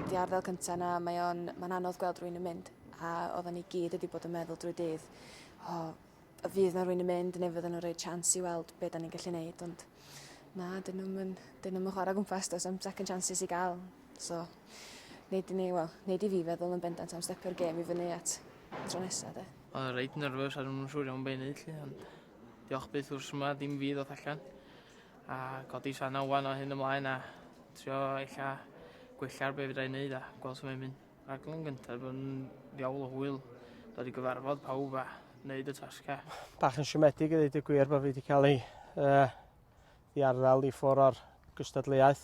Di arddel cynta na mae o'n mae'n anodd gweld rwy'n yn mynd a oedden ni gyd wedi bod yn meddwl drwy dydd o oh, y fydd na rwy'n yn mynd neu fydden nhw'n rhoi chance i weld beth da ni'n gallu neud ond na dyn nhw'n mynd dyn nhw'n chwarae gwmpas dos am second chances i gael so neud i ni wel neud i fi feddwl yn bendant am stepio'r gêm i fyny at tro nesa de. Oedd reit nyrfys a ddim yn siŵr iawn beth i neud lly ond Diolch byth wrth yma dim fi ddoth allan a codi sana wan o hyn ymlaen a trio ella gwella'r be' fedra i neud a gwel su mae'n mynd. Rhaglen gynta bod yn ddiawl o hwyl dod i gyfarfod pawb a neud y tasga. Bach yn siomedig i ddeud y gwir bod fi wedi cael ei uh, ddiarddel i ffwr o'r gystadleuaeth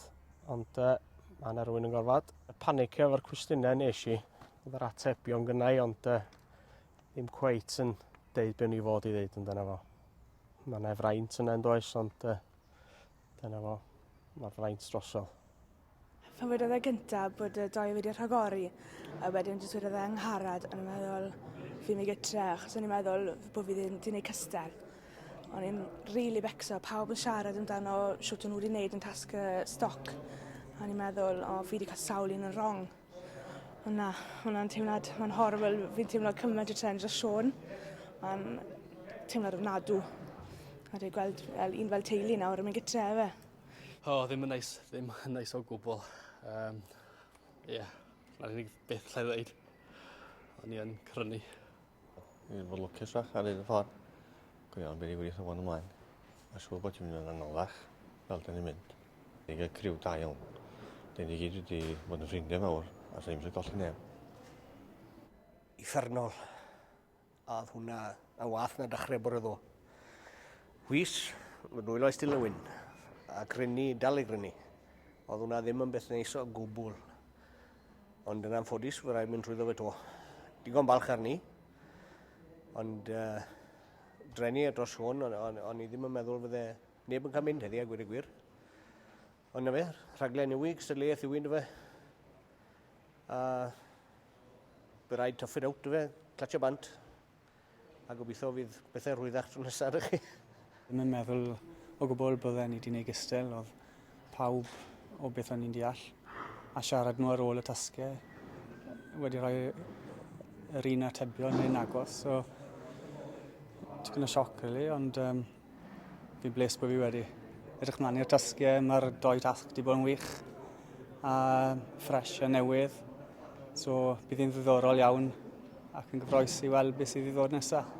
ond uh, mae yna rwy'n yn gorfod panicio efo'r cwestiynau nes i oedd yr atebion gynnau ond uh, ddim cweit yn deud be' o'n i fod i ddeud amdano fo. Ma' 'na fraint yna yndoes ond yy dyna fo. Ma'r fraint drosodd. Pan wedodd e gynta bod y doi wedi rhagori a wedyn jyst wedodd e Angharad o'n i'n meddwl fi myn' i gytre achos o'n i'n meddwl f- bo' fi ddim 'di neud cystal. O'n i'n rili becso pawb yn siarad amdano shwt o'n n'w wedi neud yn tasg y stoc a o'n i'n meddwl o fi 'di ca'l sawl un yn rong. O na, ma' wnna'n teimlad ma'n horrible fi'n teimlo cyment o trend dros Siôn. Ma'n teimlad ofnadw. A dwi gweld fel un fel teulu nawr yn myn' gytre a fe. O ddim yn neis ddim yn neis o gwbwl. Yym ie. 'Na'r unig beth 'llai ddeud. O'n i yn crynu. Dwi wedi bod lwcus fach ar hyn y ffordd. Go iawn, be' ni wych o fod ymlaen. Mae'n siŵr bod ti'n mynd yn anoddach fel da ni'n mynd. Ni'n cael criw da iawn. Da ni gyd wedi bod yn ffrindiau mawr a sa ni'n mynd golli neb. Uffernol. A oedd hwnna yn wath na dechrau bore ddo. Wis, fy nwylo i stil y wyn. A grynu, dal i grynu. Oedd hwnna ddim yn beth neis o gwbl. Ond yn anffodus, fe rhaid mynd trwyddo fe to. Digon balch arni. Ond uh, drenu e dros hwn, ond on, on i ddim yn meddwl fydde neb yn cael mynd heddi a gwir y gwir. Ond na fe, rhaglen yw i, gystadleuaeth yw i, fe. A fe rhaid toffyd awt fe, clatio bant. a gobeithio fydd bethau rhwyddach tro nesaf ydych chi. Ddim yn meddwl o gwbl bydden i 'di neud gystel, oedd pawb o beth o'n i'n deall, a siarad nhw ar ôl y tasge wedi rhoi yr un atebion neu'n agos, so tipyn o sioc rili, ond um, Fi'n blessed bod fi wedi edrych mlaen i'r tasgiau. Mae'r doi tasg wedi bod yn wych a ffres a newydd. So bydd hi'n ddiddorol iawn ac yn gyffroes i weld beth sydd i ddod nesaf.